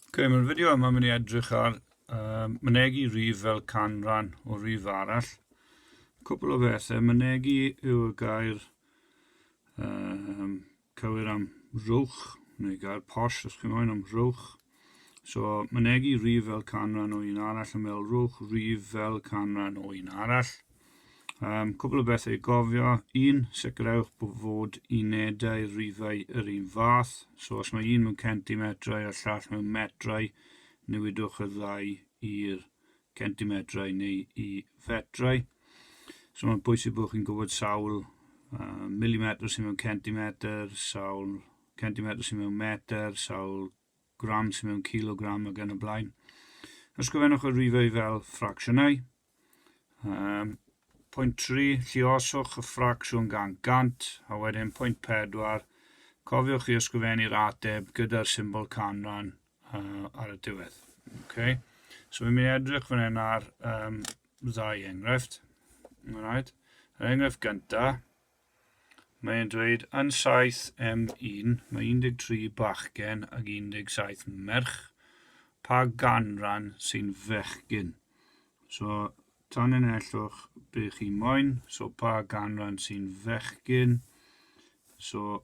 Ok, mae'r fideo yma mynd i edrych ar um, mynegi rif fel canran o rif arall. Cwpl o bethau, mynegi yw y gair um, cywir am rwch, neu gair posh os chi'n moyn am rwch. So, mynegi rif fel canran o un arall yn fel rwch rif fel canran o un arall. Um, cwbl o bethau i gofio. Un, sicrhewch bod fod unedau rifau yr un fath. So os mae un mewn centimetrau a'r llall mewn metrau, newidwch y ddau i'r centimetrau neu i fetrau. So mae'n bwysig bod chi'n gwybod sawl uh, milimetr sy'n mewn centimetr, sawl centimetr sy'n mewn metr, sawl grams mewn kilogram ac yn y blaen. Ysgrifennwch y rifau fel ffracsiynau. Um, pwynt 3, llioswch y ffracsiwn gan gant, a wedyn pwynt 4, cofiwch i ysgrifennu'r ateb gyda'r symbol canran uh, ar y diwedd. Okay. So fi'n mynd i edrych fan hyn ar um, ddau enghraifft. Right. Yr enghraifft gyntaf, Mae'n dweud yn 7M1, mae 13 bachgen ac 17 merch. Pa ganran sy'n fechgyn? So, tanlinellwch be chi moyn. So, pa ganran sy'n fechgyn? So,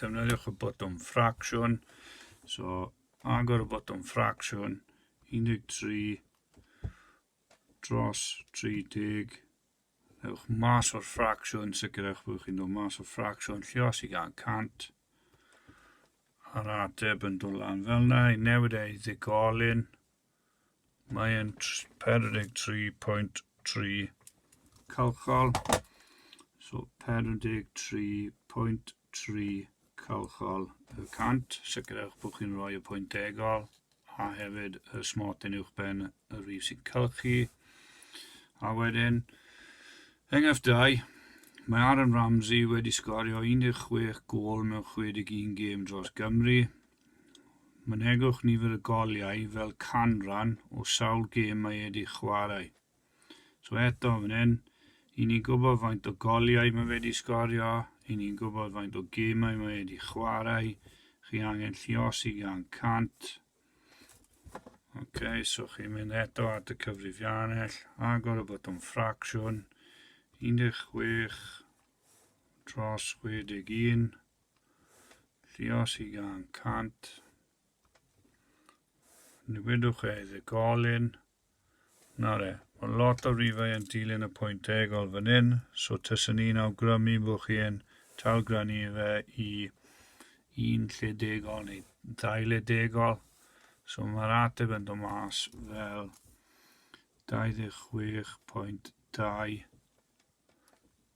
defnyddiwch y botwm ffracsiwn. So, agor y botwm ffracsiwn, 13 dros 30. Ewch mas o'r ffracsiwn, sicrhewch bod chi'n dod mas o'r ffracsiwn, lle os i gael 100. A'r ateb yn dod lan fel yna, i newid ei ddigolyn, Mae e'n 43.3 calchol. So 43.3 calchol y cant. Sicrhewch bod chi'n rhoi y pwynt degol a hefyd y smot yn uwch ben y rif sy'n cylchu. A wedyn, enghraifft 2, mae Aaron Ramsey wedi sgorio 16 gol mewn 61 gêm dros Gymru. Mynegwch nifer y goliau fel canran o sawl gêm mae wedi chwarae. So eto fan hyn, i ni'n gwybod faint o goliau mae wedi sgorio, i ni'n gwybod faint o gemau mae wedi chwarae, chi angen lliosi gan 100. Ok, so chi'n mynd eto at y cyfrifiannell, agor y botwm ffracsiwn, 16 dros 61, Llios i gan cant. Newidwch e i ddegolyn. Na re, mae lot o rifau yn dilyn y pwynt egol fan hyn, so tysyn ni'n awgrymu bod chi'n talgranu fe i un lle degol neu ddau le degol. So mae'r ateb yn dod mas fel 26.2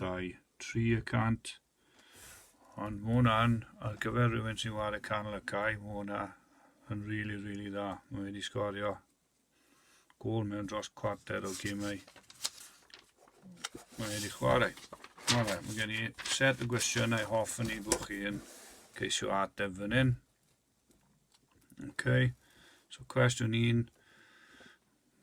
Dau, tri y cant. Ond mae hwnna'n, ar gyfer rhywun sy'n wario canol y cae, mae hwnna yn rili, really, rili really dda. Mae wedi sgorio gol mewn dros cwarter o gymau. Mae wedi chwarae. Mae fe, mae gen i set y gwestiynau hoff yn ei bod chi yn ceisio ateb fan hyn. Okay. So cwestiwn un,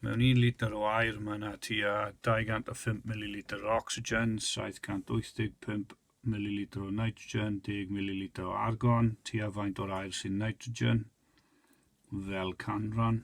mewn un litr o air mae yna tua 205 ml o oxygen, 785 ml o nitrogen, 10 ml o argon, tua faint o'r air sy'n nitrogen, fel canran.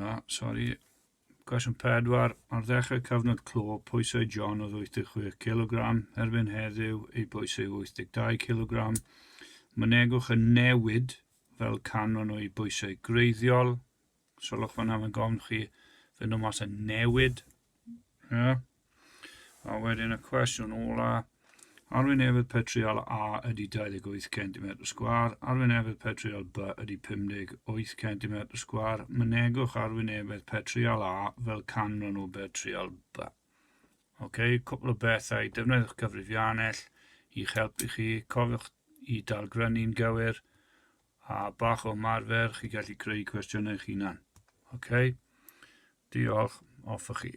Na, sori. Cwestiwn 4. Ar ddechrau cyfnod clo, pwysau John oedd 86 kilogram, erbyn heddiw ei bwys yw 82 kilogram. Mynegwch y newid fel canran o'i bwysau greiddiol. Solwch fan am y gofn chi fynd o mas y newid. Yeah. A wedyn y cwestiwn ola, Arwyn efydd petriol A ydy 28 cm sgwar, arwyn efydd petriol B ydy 58 cm sgwar, mynegwch arwyn efydd petriol A fel canran o betriol B. Ok, cwpl o bethau, defnyddiwch cyfrifiannell i'ch helpu chi, cofiwch i dalgrynu'n gywir, a bach o marfer, chi gallu creu cwestiynau eich hunan. Ok, diolch, off chi.